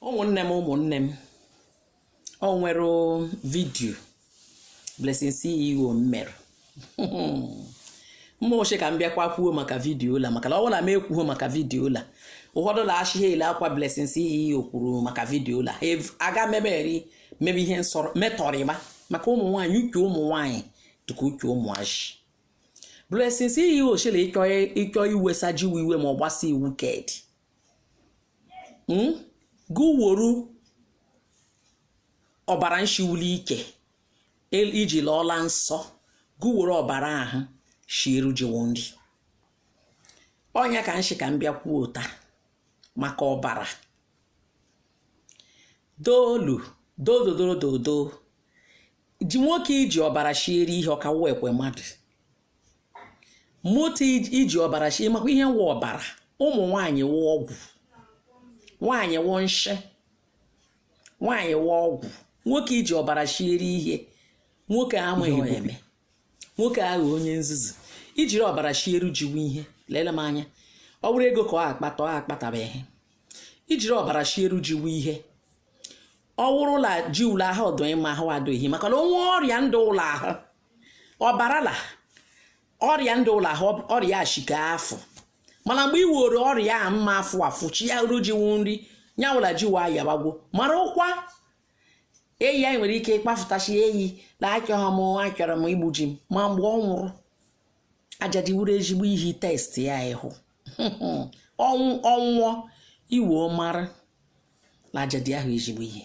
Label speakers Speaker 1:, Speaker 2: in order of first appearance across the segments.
Speaker 1: ụmụnne m ụmụnne m o nwere vidiyo Blessing CEO mmere mma oche ka m bịakwa kwuo maka vidiyo la maka na ọ bụ la m ekwuo maka vidiyo la ụfọdụ la achị ha ele akwa Blessing CEO kwuru maka vidiyo la aga meberi mebe ihe nsọrọ metọrịma maka ụmụ nwaanyị uche ụmụ nwaanyị dịka uche ụmụazị Blessing CEO chịrị ịchọ iwesa jiwe iwe ma ọ gbasa iwu kedi hmm? gụ woru ọbara nshi wu l'ike iji lọọ la nsọ gụ woru ọbara ahụ shieru ji wo nri ọ nya ka m shị ka m bịa kwuota maka ọbara doolu dododododo ji nwoke iji ọbara shiere ihe ọ ka wụkwa mmadụ moto iji ọbara shi ị makwa ihe wụ ọbara ụmụ nwaanyị wụ ọgwụ nwaanyị wụ nshị nwaanyị wụ ọgwụ nwoke iji ọbara shiere ihe nwoke amaghị eme nwoke aghọ onye nzuzu i jiri ọbara shieru ji wu ihe lele m anya ọ bụrụ ego ka ọ akpata ọ akpataba ihe i jiri ọbara shieru ji wu ihe ọ wụrụ la ji la ahụ ọ dụ mma ahụ adụghị maka na o nwe ọrịa ndụ la ahụ ọbara la ọrịa ndụ la ahụ ọrịa ashika afọ mana mgbe ị were ọrịa a mma afụ afụ shieru ji wu nri nya wụ la ji wa yabagwo marụkwa eyi anyị nwere ike ịkpafụtachi eyi na achọghị m achọrọ m igbu ji m ma mgbe ọ nwụrụ ajadi wuru ezigbo ihe test ya ị hụ ọnwụ ọ nwụọ i wee mara na ajadi ahụ ezigbo ihe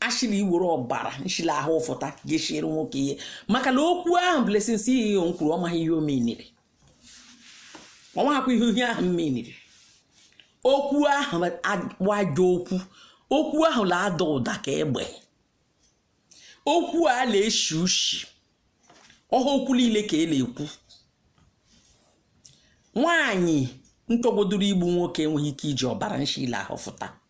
Speaker 1: a shị la i were ọbara nshi la ahụ fụta ga-eshiri nwoke ihe maka na okwu ahụ Blessing CEO nkwuru ọ maghị ihe o meniri ọ maghịkwa ihe ihe ahụ m meniri okwu ahụ agbaja okwu okwu ahụ na-ada ụda ka egbe okwu a na-eshi ushi ọha okwu niile ka e na-ekwu nwaanyị ntọgbodoro igbu nwoke enweghị ike iji ọbara nshi la ahụ fụta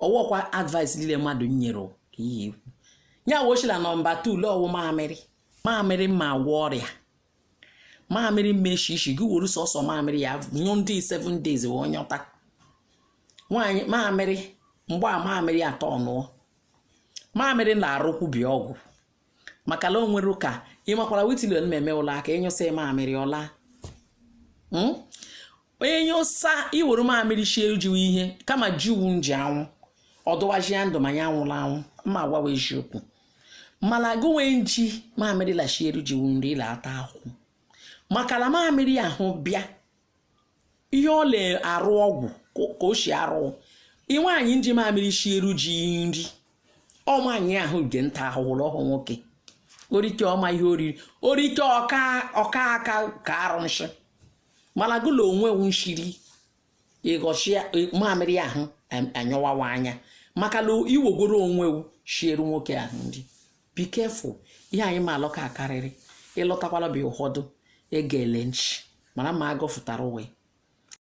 Speaker 1: ọ wụkwa advice niile mmadụ nyere ka ihe ikwu ya ọ shị la nọmba 2 ule ọ wụ mamịrị mamịrị ma agwọ ọrịa mamịrị mmeshi ishi gị were sọsọ mamịrị ya nyụ ndị 7 days wee nyọta nwaanyị mamịrị mgbe a mamịrị atọ ọnụọ mamịrị na-arụkwubi ọgwụ maka na o nwere ka ị makwara witilion na-eme ụlọ aka ị nyụsa mamịrị ọla hmm? onye nyụsa i were mamịrị shieru ji wu ihe kama ji wu nji anwụ ọdụwaji ya ndụ ma ya anwụla anwụ ma agwawa eziokwu mana gụ nwe nji mamịrị la-eshiere ji wu nri ị la-ata ahụ maka na mamịrị ahụ bịa ihe ọ na-arụ ọgwụ ka o si arụ ị nwaanyị nji mamịrị shiere di nri ọ nwaanyị ahụ na-ata ahụhụ ọhụ nwoke o rike ọma ihe oriri o rike ọka ọka aka ka arụ nshị mana gụla onwe nshiri ịghọchi mamịrị ahụ anyọwawa anya maka na i wegoro onwe shiere nwoke ahụ nri Be careful, ihe anyị ma alọ ka akarịrị, ị lọtakwala bịa ụfọdụ ege ele nchi, mara ma agọ fụtara ụwa.